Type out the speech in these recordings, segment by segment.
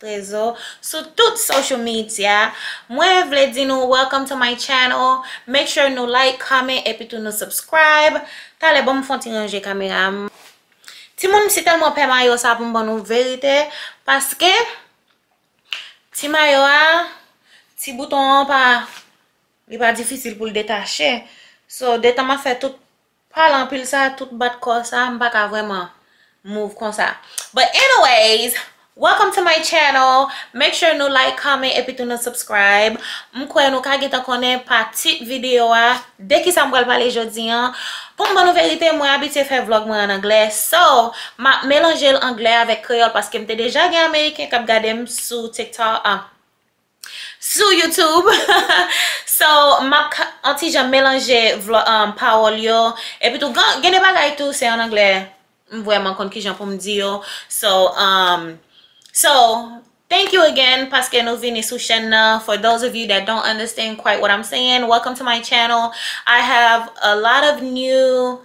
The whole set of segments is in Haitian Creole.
Trezo sou tout social media. Mwen vle di nou welcome to my channel. Make sure nou like, comment epi tou nou subscribe. Talè banm fon ti ranje kamera m. Timoun m si telman pè mayo sa pou m ban nou verite paske ti mayo a ti bouton an pa li pa difisil pou l detache. So detan map fè tout Pale anpil sa tout bat kò sa m paka vrèman move konsa but anyways welcome to my channel make sure nou like comment epi tou nou subscribe m kwè nou ka gentan konnen pa tit video a de kisa m pral pale jodi an pou m ban nou verite mwen abitye fè vlog mwen an anglè so m ap melanje l anglè avèk kreyòl paske m te deja gen ameriken k ap gade m sou tiktok. Sou YouTube So map on ti jan melanje pawòl yo Epitou gen de bagay tou se an anglè M vrèman konn kijan pou m di yo So um So Thank you again paske nou vini sou chèn nan For those of you that don't understand quite what I'm saying Welcome to my channel I have a lot of new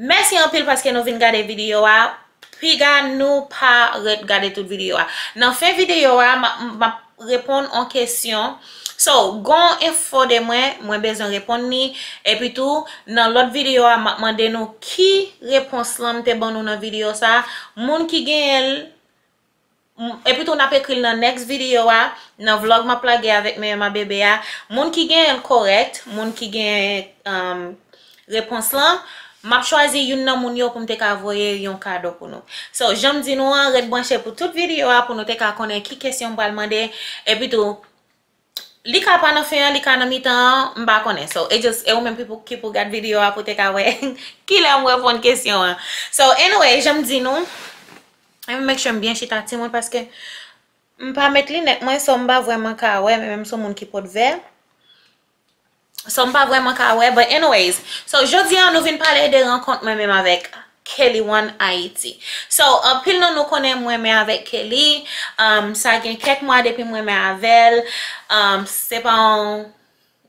Mèsi anpil paske nou vin gade videyo a, piga nou pa ret gade tout videyo a. Nan fen videyo a map reponn on kesyon, so gon enfo de mwen, mwen bezwen reponn li, epi tou nan lòt videyo a map mande nou ki repons lan mte ban nou nan videyo sa, moun ki genyenl M epitou nap ekril nan next video a, nan vlog map lage avèk meyè ma bebe a, moun ki genyenl korèk, moun ki genyen um repons lan, map chwazi youn nan moun yo poum te ka voye yon kado pou nou. So janm di nou an ret branche pou tout video a pou nou te ka konnen ki kesyon m pral mande epitou Li ka pa nan fen an, li ka nan mitan an, m pa konnen. So, e just, e ou menm ki pou, ki pou gad video a pou te ka wè kilè m reponn kesyon an. So, anyway, jan m di nou, let me make sure m byen chita ti moun paske m pa met linèt mwen so m pa vrèman ka wè men menm sou moun ki pot vè. So m pa vrèman ka wè but anyways so jodi an nou vin pale de rankont mwen menm avèk Kelly one Haiti so anpil nan nou konnen m renmen avèk Kelly sa gen kèk mwa depi m renmen avèl se pa yon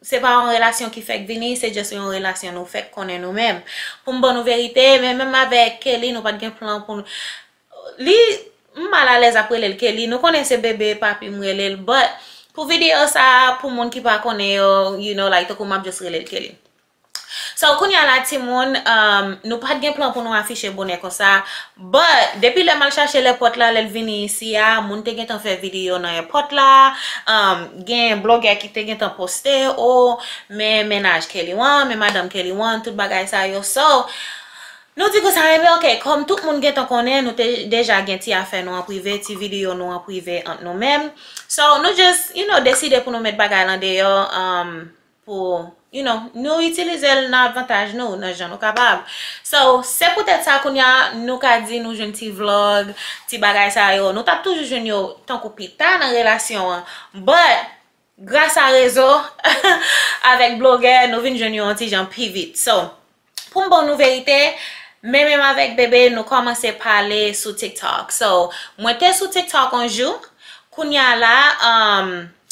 se pa yon relasyon ki fèk vini se just yon relasyon nou fèk konnen nou menm pou m ban nou verite men menm avèk Kelly nou pat gen plan pou Li M mal alèz ap relel Kelly nou konnen se bebe papi m relel but pou video sa pou moun ki pa konnen yo you know like tankou map just relel Kelly So kounya la timoun umm nou pat gen plan pou nou afiche bonè konsa but depi lèm al chache l èpòt la lèl vini isi a moun te gentan fè video nan èpòt la umm gen blogè ki te gentan poste oh men mennaj Kelly wan men madanm Kelly wan tout bagay sa yo so Nou di konsa wi ok kòm tout moun gentan konnen nou te deja gen ti afè nou an prive ti video nou an prive ant nou menm so nou just you know deside pou nou met bagay lan deyò um pou you know nou itilizel nan avantaj nou nan jan nou kapab so se poutèt sa kounya nou ka di nou jwenn ti vlog ti bagay sa yo nou tap toujou jwenn yo tankou pita nan relasyon an but Gras a rezo avèk blogè nou vin jwenn yo yon ti jan pi vit. So, pou m ban nou verite, men menm avèk Bebe nou kòmanse pale sou TikTok. So, mwen te sou TikTok yon jou, kounye a la,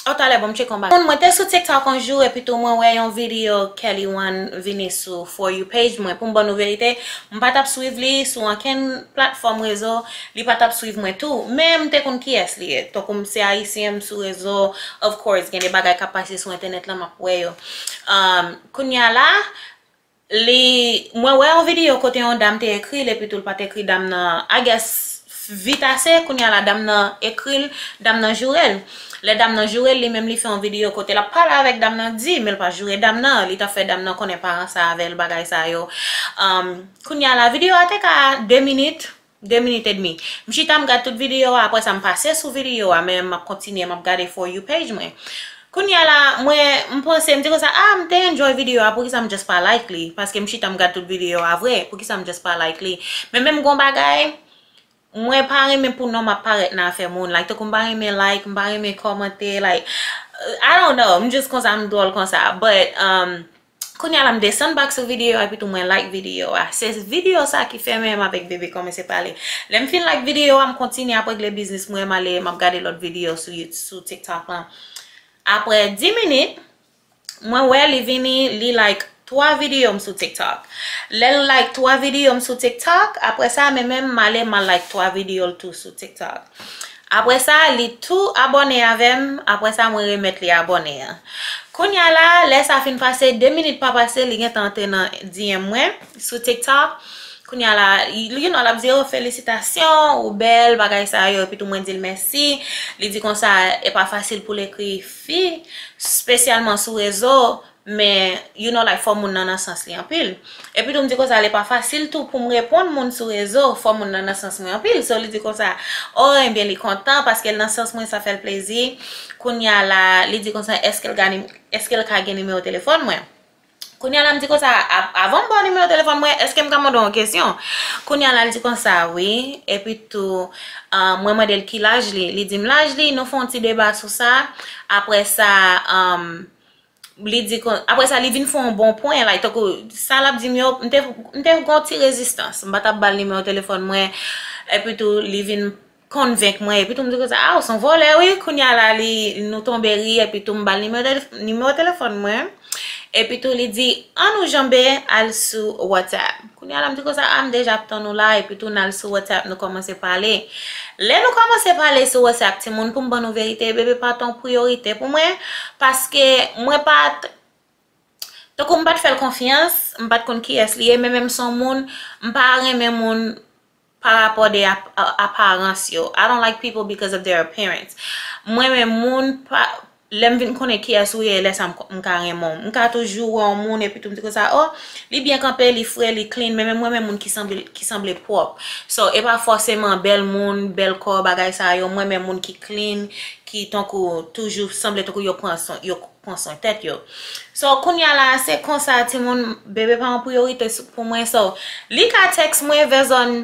oh talè bon m tcheke yon bagay. Mwen te sou TikTok yon jou epi tou mwen wè yon videyo Kelly One vini sou For You page mwen. Pou m ban nou verite, m pa t ap swiv li sou ankenn platfòm rezo, Li pa tap swiv mwen tou, men m te konn kiyès li ye. Tankou m se ayisyen, m sou rezo, of course gen de bagay k ap pase sou entènèt lan m ap wè yo. Kounye a la, li, mwen wè yon videyo kote yon dam te ekri l epitou l pa t ekri dam nan, I guess, vit ase, kounye a la dam nan ekri l, dam nan joure l. Lè dam nan joure l, li menm li fè yon videyo kote l ap pale avèk dam nan di, men l pa joure dam nan, li ta fè dam nan konnen pa ranse avè l, bagay sa yo. Kounye a la, videyo a te ka 2 minit, 2 minit edmi. M chita m gad tout videyo a aprè sa m pase sou videyo a men map kontinye map gade for you page mwen. Kounya la mwen m panse m di konsa ah m te enjoy videyo a poukisa m just pa like li paske m chita m gad tout videyo a vre poukisa m just pa like li men menm gon bagay mwen pa renmen pou nonm ap parèt nan afè moun like tankou m pa renmen like m pa renmen kòmante like I don't know m just konsa m dwòl konsa but umm. Kounya la m desann bak sou videyo a epitou mwen like videyo a. Se videyo sa ki fè mwen m avèk Bebe kòmanse pale. Lè m fin like videyo a, m kontinye ap regle biznis mwen, m ale m ap gade lòt videyo sou you sou tiktok lan. Aprè 10 minit, mwen wè li vini li like 3 videyo m sou tiktok. Lè l like 3 videyo m sou tiktok, aprè sa mwen menm m ale m al like 3 videyo l tou sou tiktok. Aprè sa li tou abòne avèm aprè sa mwen remèt li abòne an kounya la lè sa fin pase 2 minit pa pase li gentan antre nan DM mwen sou tiktok kounya la you know lap di oh felisitasyon ou bèl bagay sa yo epitou mwen dil mèsi li di konsa epa fasil poul ekri fi spesyalman sou rezo Men you no like fò moun nan nan sans li anpil. Epi tou m di konsa li pa fasil tou pou m reponn moun sou rezo fò moun nan nan sans mwen anpil. So li di konsa oh enbyen li kontan paske l nan sans mwen sa fè l plezi. Kounya la li di konsa eske l ka gen nimewo telefòn mwen. Kounya la m di konsa avan m ba w nimewo telefòn mwen eske m ka mande w yon kesyon. Kounya la l di konsa wi epi tou mwen mande l ki laj li. Li di m laj li nou fè yon ti deba sou sa aprè sa. Li di kon, apre sa li vin fè yon bon pwen, like tankou sa l ap di m yo, m te gen yon ti rezistans, m pa t ap ba l nimewo telefòn mwen, epi tou li vin konvenk mwen, epi tou m di konsa, a ou s on vòlè wi, kounye a la li, nou tonbe ri, epi tou m ba l nimewo telefòn mwen, epi tou li di, an nou janbe al sou WhatsApp. Kounya la m di konsa ah m deja ap tann ou la epi tou nal sou whatsapp nou kòmanse pale lè nou kòmanse pale sou whatsapp timoun pou m ban nou verite bebe pa t yon priyorite pou mwen paske mwen pa t tankou m pa t fè l konfyans m pa t konn kiyès li ye men menm s on moun m pa renmen moun Pa rapò de aparans yo. I don't like people because of their appearance. M renmen moun pa lè m vin konnen kiyès ou ye lè sa m ka renmen w. M ka toujou wè yon moun epitou m di konsa oh li byen kanpe, li fre, li clean men men m renmen moun ki sanble pwòp. So e pa fòseman bèl moun, bèl kò bagay sa yo. M renmen moun ki clean, ki tankou toujou sanble tankou yo pran swen yo. pran swen tèt yo so kounya la se konsa timoun bebe pa yon priyorite pou mwen so li ka tèks mwen vè zòn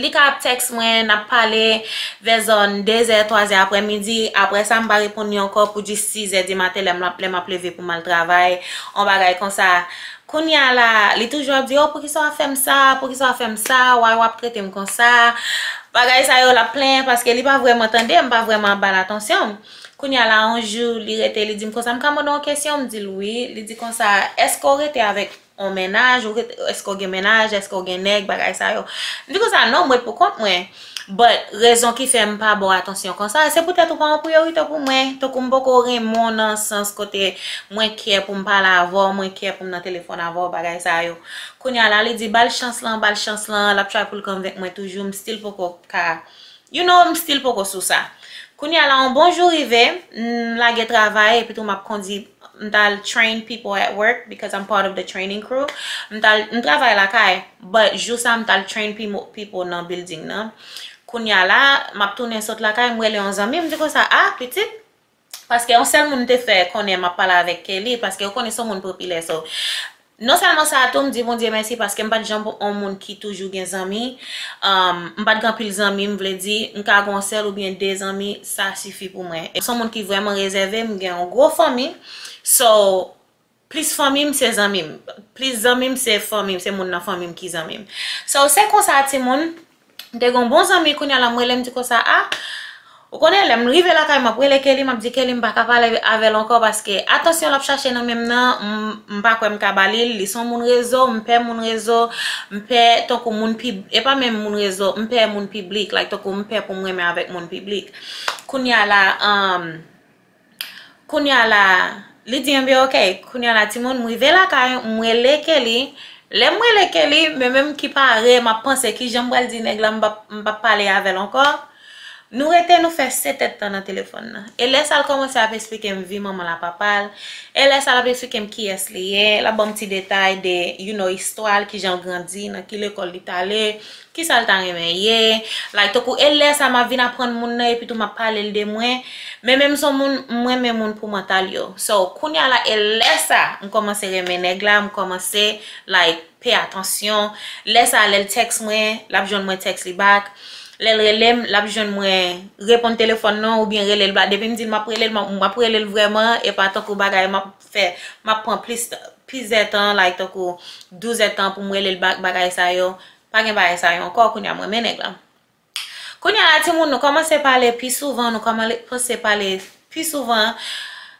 li ka ap tèks mwen nap pale vè zòn 2 zè 3 zè aprè midi aprè sa m pa reponn li ankò pou jis 6 zè di maten lè m ap leve pou m al travay yon bagay konsa kounya la li toujou ap di oh poukisa w ap fè m sa poukisa w ap fè m sa why w ap trete m konsa bagay sa yo l ap plenyen paske li pa vrèman tande m pa vrèman ap ba l atansyon m. Kounye a la, yon jou, li rete, li di m konsa, M ka mande w yon kesyon? M di l wi. Li di konsa, Èske w rete avèk yon mennaj? Èske w gen mennaj? Èske w gen nèg? Bagay sa yo. M di konsa, Non, m ret pou kont mwen. But, rezon ki fè m pa ba w atansyon konsa, se poutèt ou pa yon priyorite pou mwen. Tankou m poko renmen w nan sans kote mwen kè pou m pale avè w, mwen kè pou m nan telefòn avè w, bagay sa yo. Kounye a la, li di, Ba l chans lan, ba l chans lan. L ap tray pou l konvenk mwen toujou. M still poko ka You know m still poko sou sa. Kounya la on bon jou rive, m lage travay epi tou map kondi m t al train people at work because I'm part of the training crew. M t al, m travay lakay but jou sa m t al train people nan building nan. Kounya la map tounen sot lakay m rele on zanmi m di konsa ah pitit Paske yon sèl moun te fè konnen map pale avèk Kelly paske yo konnen son moun popilè so non sèlman sa tou mdi Bondye mèsi paske mpat janm yon moun ki toujou gen zanmi mpat gen anpil zanmi m vle di mka gon sèl oubyen de zanmi sa sifi pou mwen son moun ki vrèman rezève mgen yon gwo fanmi so Plis fanmi m se zanmi m. Plis zanmi m se fanmi m, se moun nan fanmi m ki zanmi m. So se konsa timoun, m te gen yon bon zanmi kounye a la m rele m di konsa a, ou konnen lè m rive lakay m ap rele Kelly m ap di Kelly m pa ka pale avè l ankò paske atansyon l ap chache nan men m nan m pa kwè m ka ba li l, li s on moun rezo, m pè moun rezo, m pè tankou moun pib, e pa menm moun rezo, m pè moun piblik, like tankou m pè pou m renmen avèk moun piblik. Kounye a la. Kounya la, li di enben ok, kounya la timoun m rive lakay, m rele Kelly, lè m rele Kelly, men menm ki pare, m ap panse ki jan m pral di nèg la m p ap pale avè l ankò, nou rete nou fè 7 èd tan nan telefòn nan. E lè sa l kòmanse ap esplike m vi manman l a papa l, e lè sa l ap esplike m kiyès li ye, l ap ban m ti detay de you know istwa l, ki jan l grandi, nan ki lekòl li t ale, Kisa l ta renmen ye? Like tankou e lè sa map vin aprann moun nan epitou map pale l de mwen men menm son moun m renmen moun pou mantal yo so kounya la e lè sa m kòmanse renmen nèg la m kòmanse like pay atansyon lè sa lè l text mwen lap jwenn mwen text li back lè l rele m lap jwenn mwen reponn telefòn non oubyen rele l back depi m di l map rele l map rele l vrèman e pa tankou bagay map fè map pran plis plis zè tan like tankou 12 zè tan pou m relel bak bagay sa yo pa gen bagay sa yo ankò kounye a m renmen nèg lan kounye a la ti moun nou kòmanse pale pi souvan nou kòmanse pale pi souvan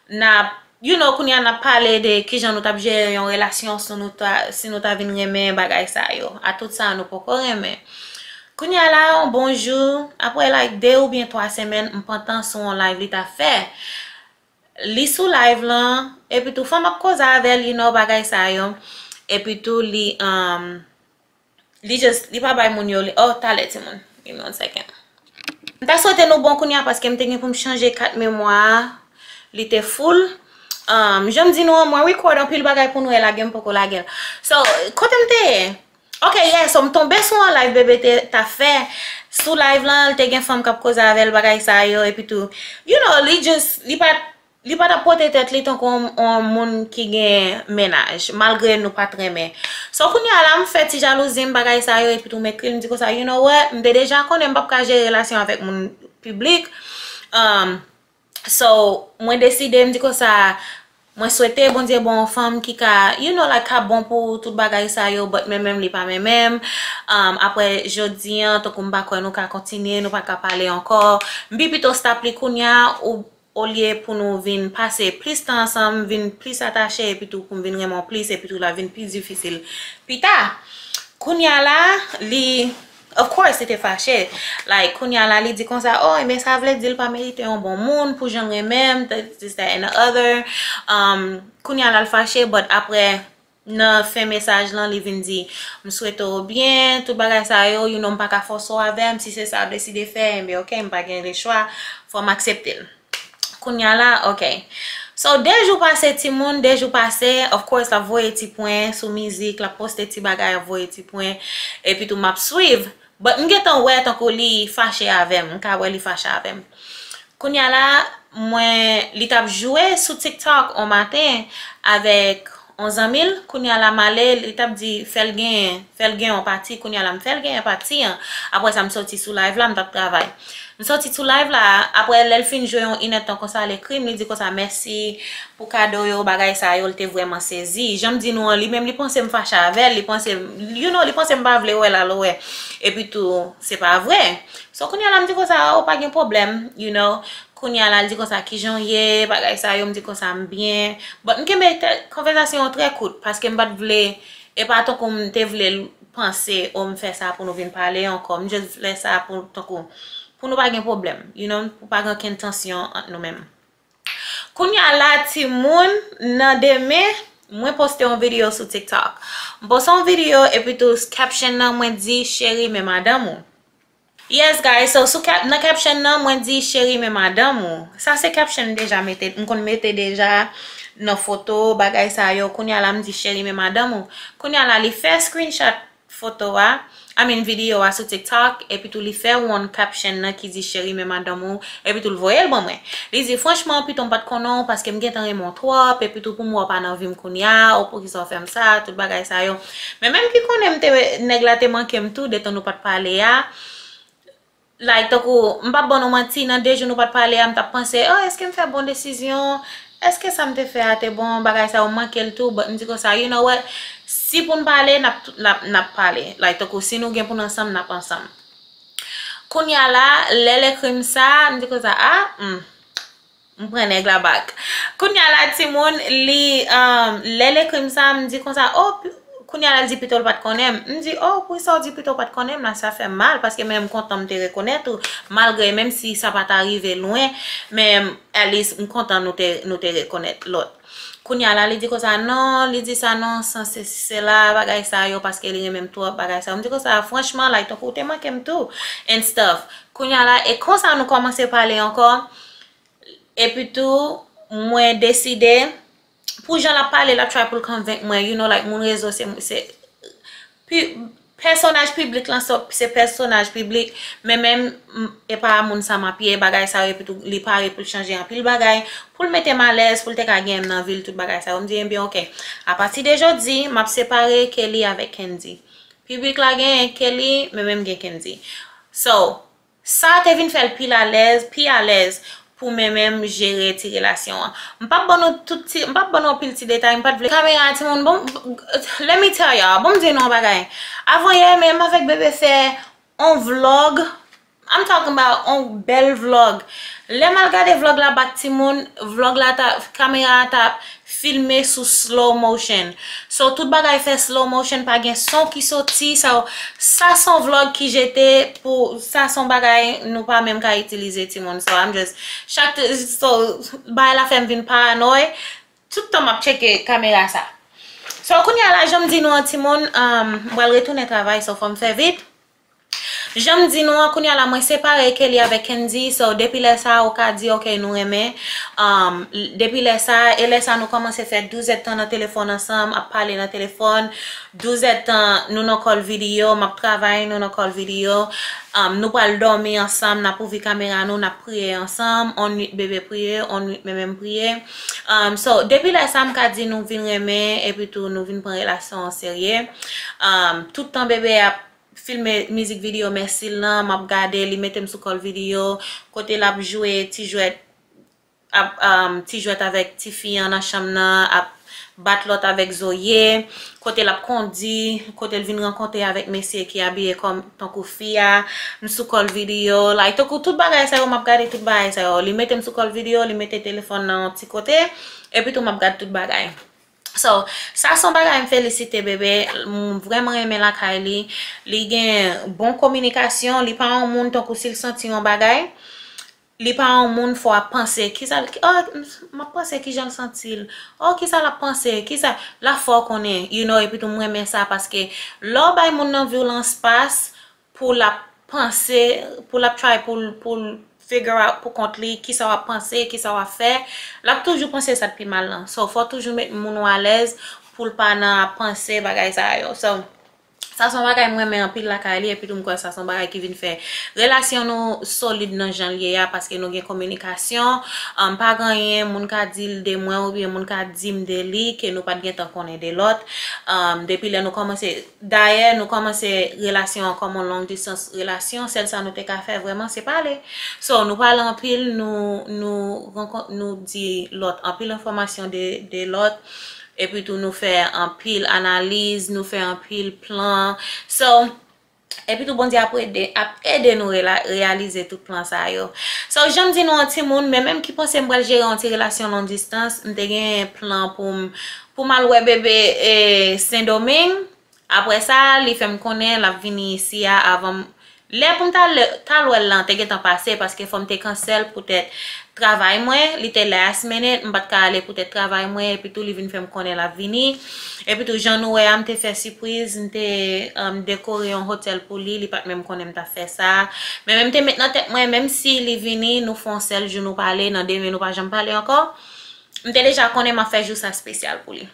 nap you know kounye a nap pale de kijan nou tap jere yon relasyon sou nou ta si nou ta vin renmen bagay sa yo a tout sa nou poko renmen kounye a la yon bon jou apre like 2 oubyen 3 semèn m pantan sou yon live li ta fè Li sou live lan epitou fòm ap koze avèl you know bagay sa yo epitou li um li just li pa bay moun yo li oh talè timoun give me one second m ta swete nou bon kounya paske m te gen pou m chanje kat memwa a li te full um janm di nou an mwen record anpil bagay pou nwèl la gen m poko lagel so kote m te ye Ok yeah so m tonbe sou yon live BB ta fè, sou live lan li te gen fanm kap koze avèl bagay sa yo epi tou you know li just li pat li pa tap pote tèt li tankou yon moun ki gen mennaj malgre nou pat renmen so kounya la m fè ti jalouzi m bagay sa yo epi tou m ekri l m di konsa you know what m te deja konnen m pap ka jere relasyon avèk moun piblik umm. So mwen deside m di konsa mwen swete Bondye ban yon fanm ki ka you know like ka bon pou tout bagay sa yo but menmenm li pa menmenm um aprè jodi an tankou m pa kwè nou ka kontinye nou pa ka pale ankò m pi pito stop li kounya ou olye pou nou vin pase plis tan ansanm vin plis atache epitou pou m vin renmen w plis epitou l ap vin pi difisil pita kounya la li. Of course li te fache, like kounya la li di konsa oh ebyen sa vle di li pa merite yon bon moun pou janl renmenm this that and the other um kounya la li fache but aprè nan fen mesaj lan li vin di m swete w byen tout bagay sa yo you know m paka fòse w avèm si se sa wap deside fè ebyen ok m pa gen le chwa fòm aksepte l. Kounya la ok So 2 jou pase timoun 2 jou pase Of course lap voye ti pwen sou mizik lap poste ti bagay ap voye ti pwen Epi tou map swiv But m gentan wè tankou li fache avèm m ka wè li fache avèm Kounya la mwen li tap jwe sou tiktok on maten Avèk On zanmi l, kounye a l a male, li t ap di fè l genyen, fè l gen on pati, kounye a la m fè l genyen pati an, aprè sa m soti sou live la, m t ap travay. M soti sou live la, aprè lè l fin jwe on inèdtan konsa l ekri m, li di konsa mèsi pou kado yo, bagay sa yo, l te vrèman sezi. Jan m di nou an, li menm li panse m fache avè l, li panse, you know, li panse m pa vle wè l al wè, epitou se pa vre. So kounye a la m di konsa, o pa gen pwoblèm, you know, Kounya la l di konsa kijan w ye, bagay sa yo, m di konsa m byen. Bon, m kenbe konvèzasyon an trè kout paske m pa t vle, e pa tankou m te vle l panse o m fè sa pou nou vin pale ankò. M just vle sa pou tankou pou nou pa gen pwoblèm, you know, pou pa gen okenn tansyon ant nou menm. Kounya la timoun, nan demen, mwen poste yon videyo sou TikTok. M poste yon videyo epitou caption nan mwen di cheri men madanm ou. Yes guys so sou kèp nan caption nan mwen di cheri men madanm ou sa se caption m deja mete m konn mete deja nan foto bagay sa yo kounya la m di cheri men madanm ou kounya la li fè screenshot foto a I mean video a sou tiktok epitou li fè one caption nan ki di cheri men madanm ou epitou l voye l ban mwen li di franchman pito m pat konnen w paske m gentan renmen w twòp epitou pou m wè w pa nan vi m kounya ou poukisa w fè m sa tout bagay sa yo. Men menm ki konnen m te nèg la te manke m tou detan nou pat pale a like tankou m pap ban nou manti nan 2 jou nou pat pale a m tap panse oh eske m fè bon desizyon eske sa m te fè a te bon bagay sa yo m manke l tou but m di konsa you know what si pou n pale nap pale like tankou si nou gen pou n ansanm nap ansanm kounya la lè l ekri m sa m di konsa ah humm. M pran nèg la back. Kounya la timoun li lè l ekri m sa m di konsa oh kounya la l di pito l pat konnen m. M di oh pou sa w di pito w pat konnen m la sa fè m mal paske men m kontan m te rekonèt ou malgre menm si sa pa ta rive lwen men Alice m kontan nou te rekonèt lòt. Kounya la li di konsa non li di sa non san se si se la bagay sa yo paske li renmen m twòp bagay sa yo m di konsa franchman like tankou w te manke m tou and stuff kounya la e konsa nou kòmanse pale ankò Epi tou mwen deside pou jan lap pale lap try pou l konvenk mwen you know like moun rezo se pèsonaj piblik lan se pèsonaj piblik men men e pa moun sa map ye bagay sa yo epi tou li pare pou l chanje anpil bagay pou l mete m alèz pou l te ka gen m nan vil tout bagay sa yo m di ebyen ok apati de jodi map separe Kelly avèk Kendy piblik la gen Kelly men men m gen Kendy so. Sa te vin fè l pi lalèz, pi alèz pou men menm jere ti relasyon an. M pap ban nou tout ti, m pap ban nou anpil ti detay, m pat vle. Kamera a timoun bon Let me tell y'all, bon m di nou yon bagay. Avan yè menm m avèk Bebe fè on vlog, I'm talking about on bèl vlog. Lè m al gade vlog la bak timoun, vlog la ta, kamera a ta Filme sou slow motion. So tout bagay fè slow motion pa gen son ki soti sa yo sa son vlog ki jete pou sa son bagay nou pa menm ka itilize timoun so I'm just chak so bagay la fèm vin paranòy tout tan map tcheke kamera sa so kounya la janm di nou an timoun m pral retounen travay so fòm fè vit Janm di nou an kounya la mwen separe Kelly avèk Kendy so depi lè sa ou ka di ok nou renmen um depi lè sa e lè sa nou kòmanse fè 12 èdtan nan telefòn ansanm ap pale nan telefòn 12 èdtan nou nan kòl videyo map travay nou nan kòl videyo um nou pral dòmi ansanm nap ouvri kamera nou nap priye ansanm on nwit bebe priye on nwit meme m priye um so depi lè sa m ka di nou vin renmen epi tou nou vin pran relasyon an serye um tout tan bebe ap filme mizik video mèsi l lan, m ap gade li mete m sou kò l video kote l ap jwe ti jwèt ap ti jwèt avèk ti fi an nan chanm nan ap bat lòt avèk zoye kote l ap kondi kote l vin rankontre avèk mesye ki abiye kòm tankou fi a m sou kò l video like tankou tout bagay sa yo m ap gade tout bagay sa yo li mete m sou kò l video li mete telefòn nan yon ti kote epitou m ap gad tout bagay. So sa son bagay m felisite bebe m vreman renmen lakay li li gen bon kominikasyon li pa yon moun tankou si l santi yon bagay li pa yon moun fò ap panse kisa l oh m ap panse kijan l santi l oh kisa l ap panse kisa la fè w konnen you know epitou m renmen sa paske lè w bay moun nan vi w lan espas pou lap panse pou lap try poul poul figure out pou kont li kisa wap panse kisa wap fè lap toujou panse sa k pi mal lan so fòw toujou met moun ou alèz poul pa nan ap panse bagay sa yo so sa son bagay m renmen anpil lakay li epitou m kwè sa son bagay ki vin fè relasyon nou solid nan janl ye a paske nou gen kominikasyon pa gen anyen moun ka dil de mwen oubyen moun ka dim de li ke nou pat gentan konnen de lòt depi lè nou kòmanse. Dayè nou kòmanse relasyon an kòm on long distance relasyon, sèl sa nou te ka fè vrèman se pale. So nou pale anpil, nou di lòt anpil enfòmasyon de lòt, epi tou nou fè anpil analiz, nou fè anpil plan. So, epi tou Bondye ap ede nou reyalize tout plan sa yo. So janm di nou an timoun, men menm ki panse m pral jere on ti relasyon long distance, m te gen plan pou m Pou m al wè bebe Sendomeng. Apre sa, li fè m konnen l ap vini isi a avan m. Lè pou m t al wè l lan te gentan pase paske fò m te kansèl poutèt travay mwen. Li te last minute, m pa t ka ale poutèt travay mwen. Epitou li vin fè m konnen l ap vini. Epitou jan nou wè a, m te fè sipriz. M te dekore yon hotèl pou li. Li pa t menm konnen m t ap fè sa. Men m te met nan tèt mwen menm si li vini, nou fè yon sèl jou nou pale. Nan demen nou pa janm pale ankò. M te deja konnen m ap fè jou sa spesyal pou li.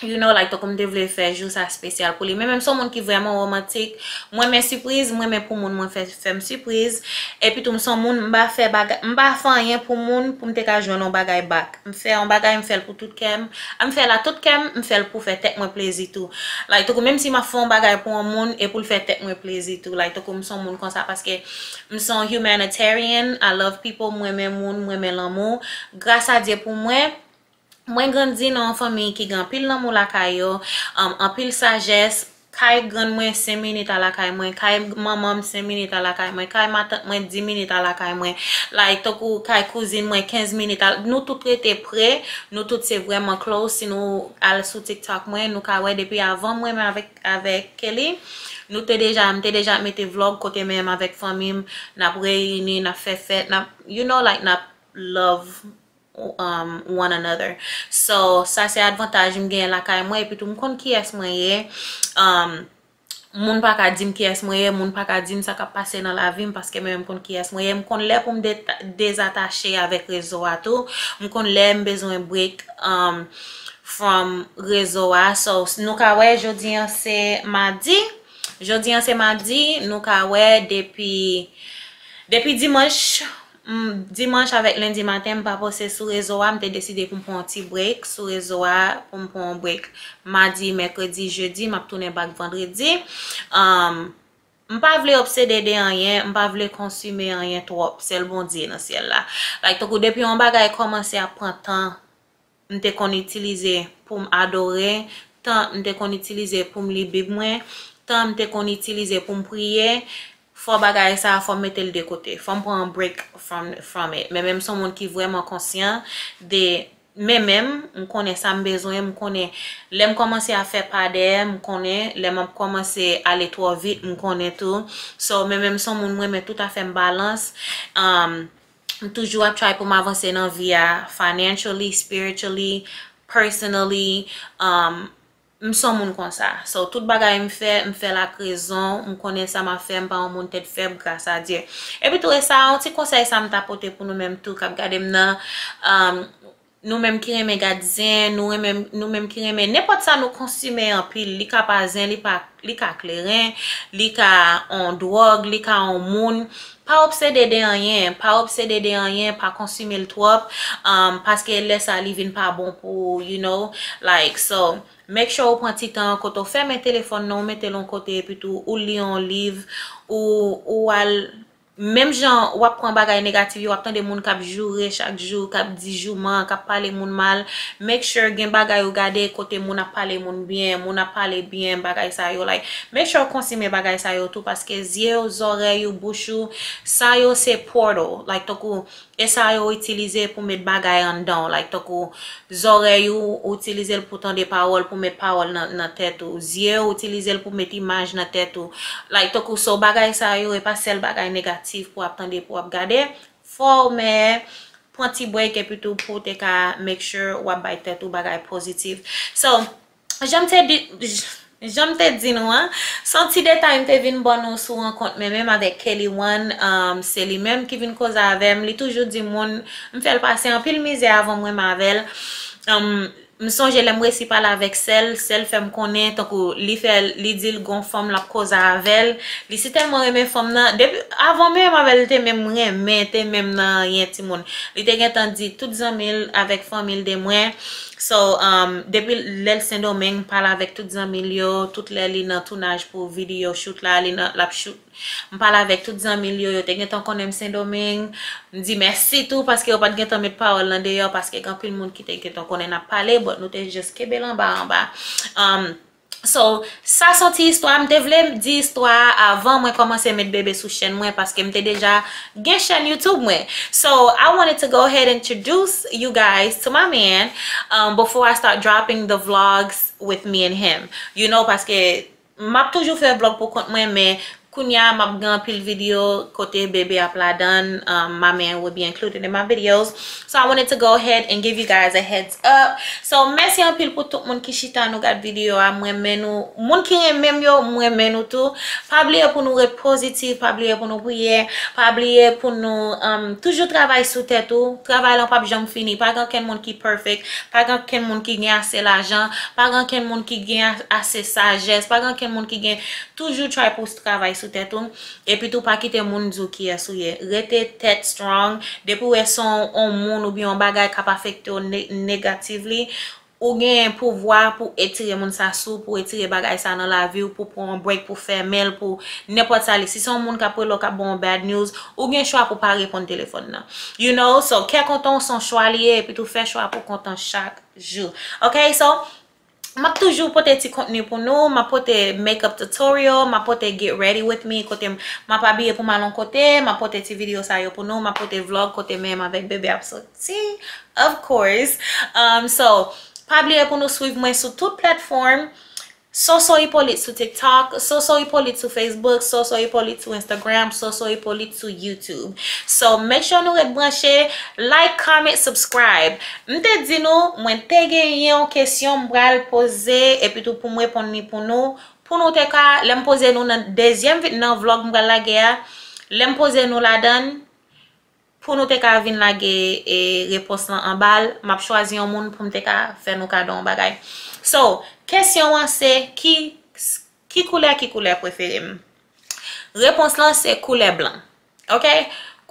You know like tankou m te vle fè jou sa spesyal pou li. Men men m se yon moun ki vrèman romantik. M renmen sipriz, m renmen pou moun mwen fè m sipriz. Epi tou m se yon moun m pa fè bagay, m pa fè anyen pou moun pou m te ka jwenn yon bagay back. M fè yon bagay m fè l pou tout kè m. A m fè l a tout kè m, m fè l pou fè tèt mwen plezi tou. Like tankou menm si m ap fè yon bagay pou yon moun e pou l fè tèt mwen plezi tou. Like tankou m se yon moun konsa paske M son humanitarian, I love people, m renmen moun, m renmen lanmou. Gras a Dye pou mwen, mwen grandi nan yon fanmiy ki gen anpil lanmou lakay yo, anpil sajès, kay grann mwen 5 minit a lakay mwen, kay manman m 5 minit a lakay mwen, kay matant mwen 10 minit a lakay mwen, like tankou kay kouzin mwen 15 minit a, nou tout rete pre, nou tout se vrèman close, si nou al sou tiktok mwen nou ka wè depi avan m renmen avèk. Avèk Kelly nou te deja m te deja mete vlog kote menm avèk fanmi m nap reyini nap fè fèt nap you know like nap love one another so sa se advantaj m genyen lakay mwen epitou m konn kiyès mwen ye moun pa ka di m kiyès mwen ye moun pa ka di m sa kap pase nan lavi m paske mwen menm m konn kiyès mwen ye m konn lè pou m dezatache avèk rezo a tou m konn lè m bezwen break. from rezo a so nou ka wè jodi an se madi jodi an se madi nou ka wè depi depi dimanch dimanch avèk lendi maten m pa pose sou rezo a m te deside pou m pran yon ti break sou rezo a pou m pran yon break madi mèkredi jedi m ap tounen bak vandredi emm m pa vle obsede de anyen m pa vle konsime anyen twòp sèl bondye nan syèl la like tankou depi yon bagay kòmanse ap pran tan m te konn itilize pou m adore, tan m te konn itilize pou m li Bib mwen, tan m te konn itilize pou m priye, fò bagay sa a fò m mete l de kote. Fò m pran yon break from it. Menmenm m se yon moun ki vrèman konsyan de menmenm, m konnen sa m bezwen, m konnen lè m kòmanse ap fè pa dèyè, m konnen lè m ap kòmanse ale twò vit, m konnen tou. So menmenm m se yon moun m renmen tout afè m balans. M toujou ap try pou m avanse nan vi a financially, spiritually, personally um m son moun konsa so tout bagay m fè m fèl ak rezon m konnen sa m ap fè m pa yon moun tèt fèb gras a Dye epitou e sa yon ti konsèy sa m ta pote pou nou menm tou k ap gade m nan um Nou menm ki renmen gad zen, nou renmen, nou menm ki renmen nenpòt sa nou konsime anpil, li ka pa zen, li pa, li ka kleren, li ka on dwòg, li ka on moun, pa obsede de anyen, pa obsede de anyen, pa konsime l twòp, umm, paske lè sa li vin pa bon pou ou, you know, like, so, make sure ou pran ti tan, kote ou fèmen telefòn nan, ou mete l on kote, epitou ou li on liv, ou, ou al, Menm jan w ap pran bagay negatif yo, w ap tande moun k ap joure chak jou, k ap di jouman, k ap pale moun mal, make sure gen bagay ou gade kote moun ap pale moun byen, moun ap pale byen, bagay sa yo like. Make sure ou konsime bagay sa yo tou paske zye w, zòrèy ou, bouch ou, sa yo se portal, like tankou E sa yo itilize pou met bagay anndan w like tankou zòrèy ou ou itilize l pou tande pawòl pou met pawòl nan tèt ou zye ou itilize l pou met imaj nan tèt ou like tankou so bagay sa yo e pa sèl bagay negatif pou ap tande pou ap gade fò w mè pran ti break epitou pou te ka make sure wap bay tèt ou bagay pozitif so. Jan m te di nou an, se yon ti detay m te vin ban nou sou rankont mwen menm avèk Kelly One, se li menm ki vin koze avè m, li toujou di moun m fè l pase anpil mizè avan m renmen avè l, m sonje lè m resi pale avèk sè l, sè l fè m konnen tankou li fè l, li di l gon fanm l ap koze avè l, li si tèlman renmen fanm nan, depi, avan menm avè l te menm renmen, te menm nan anyen timoun, li te gentan di tout zanmi l avèk fanmi l de mwen. So um depi lèl sendomeng pale avèk tout zanmil yo tout lè li nan tounaj pou video shoot la li nan lap shoot m pale avèk tout zanmil yo yo te gentan konnen m sendomeng m di mèsi tou paske yo pat gentan met pawòl nan deyò paske gen anpil moun ki te gentan konnen nap pale but nou te just kenbel anba anba um So sa son ti istwa m te vle di istwa a avan mwen komanse met bebe sou chèn mwen paske m te deja gen chèn youtube mwen so I wanted to go ahead introduce you guys to my man um before I start dropping the vlogs with me and him you know paske map toujou fè vlog pou kont mwen men Kounya map gen anpil video kote bebe ap ladan my man will be included in my videos so I wanted to go ahead and give you guys a heads up so mèsi anpil pou tout moun ki chita nou gad video a m renmen nou moun ki renmen m yo m renmen nou tou pa bliye pou nou ret positive pa bliye pou nou priye pa bliye pou nou toujou travay sou tèt ou travay lan pap janm fini pa gen ankenn moun ki perfect pa gen ankenn moun ki gen ase lajan pa gen ankenn moun ki gen ase sajès pa gen ankenn moun ki gen Toujou try pou w travay sou tèt ou, epitou pa kite moun di w kiyès ou ye. Rete tèt strong, depi w wè son on moun oubyen on bagay kap afekte w negatively, ou gen pouvwa pou etire moun sa sou w, pou etire bagay sa nan lavi w, pou pran on break, pou fèmen l, pou nenpòt sa li. Si son moun kap rele w kap ban w bad news, ou gen chwa pou pa reponn telefòn nan. You know, so kè kontan w son chwa li ye, epitou fè chwa pou w kontan chak jou. Ok, so, Map toujou pote ti kontni pou nou, map pote make up tutorial, map pote get ready with me kote map abiye poum al yon kote, map pote ti video sa yo pou nou, map pote vlog kote menm avèk bebe ap soti of course so pa bliye pou nou swiv mwen sou tout platform Soso Hyppolite sou tiktok, Soso Hyppolite sou facebook, Soso Hyppolite sou instagram, Soso Hyppolite. sou youtube so make sure nou ret branche like comment subscribe m te di nou mwen te gen yon kesyon m pral poze epitou poum reponn li pou nou pou nou te ka lem poze nou nan dezyem vide nan vlog m pral lage a lem poze nou ladann pou nou te ka vin lage e repons lan anbal map chwazi yon moun poum te ka fè nou kado yon bagay so kesyon an se ki Ki koulè ki koulè prefere m? Repons lan se koulè blan. Ok.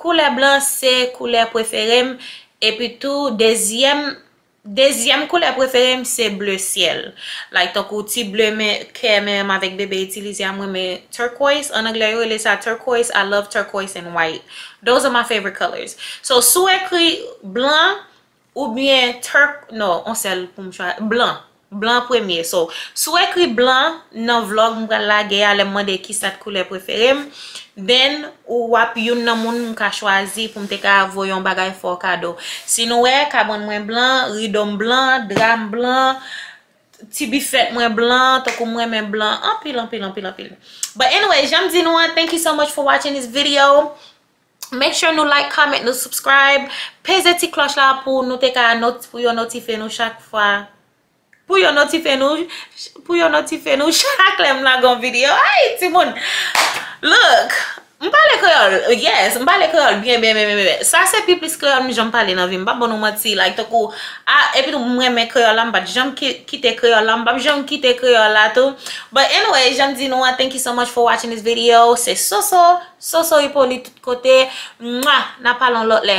Koulè blan se koulè prefere m. Epi tou dezyèm dezyèm koulè prefere m se bleu ciel. Like tankou ti bleu men kè menm avèk bebe itilize a m renmen turquoise. An anglè yo rele sa turquoise. I love turquoise and white. Those are my favorite colors. So si w ekri blan Ou byen Turk non on sèl poum chwazi blan blan premye so si w ekri blan nan vlog m pral lage a lèm mande kisa t koulè prefere m then ou wap youn nan moun m ka chwazi poum te ka voye yon bagay fè w kado si nou wè kabann mwen blan rido m blan dra m blan ti bifèt mwen blan tankou m renmen blan anpil anpil anpil anpil but anyway janm di nou an thank you so much for watching this video. Make sure nou like, comment, nou subscribe. Peze ti kloch la pou nou te ka not pou yo notife nou chak fwa. Pou yo notife nou pou yo notife nou chak lè m lage yon video. Ayy timoun! Look! M pale kreyòl. Yes, m pale kreyòl byen byen byen byen byen. Sa se pi plis kreyòl m janm pale nan vi m. M pap ba nou manti like tankou a epitou m renmen kreyòl la m pat janm kite kreyòl la m pap janm kite kreyòl la tou. But anyway, jan m di nou an thank you so much for watching this video. Se Soso! Soso Hyppolite tout kote Mwa Na pale yon lot lè.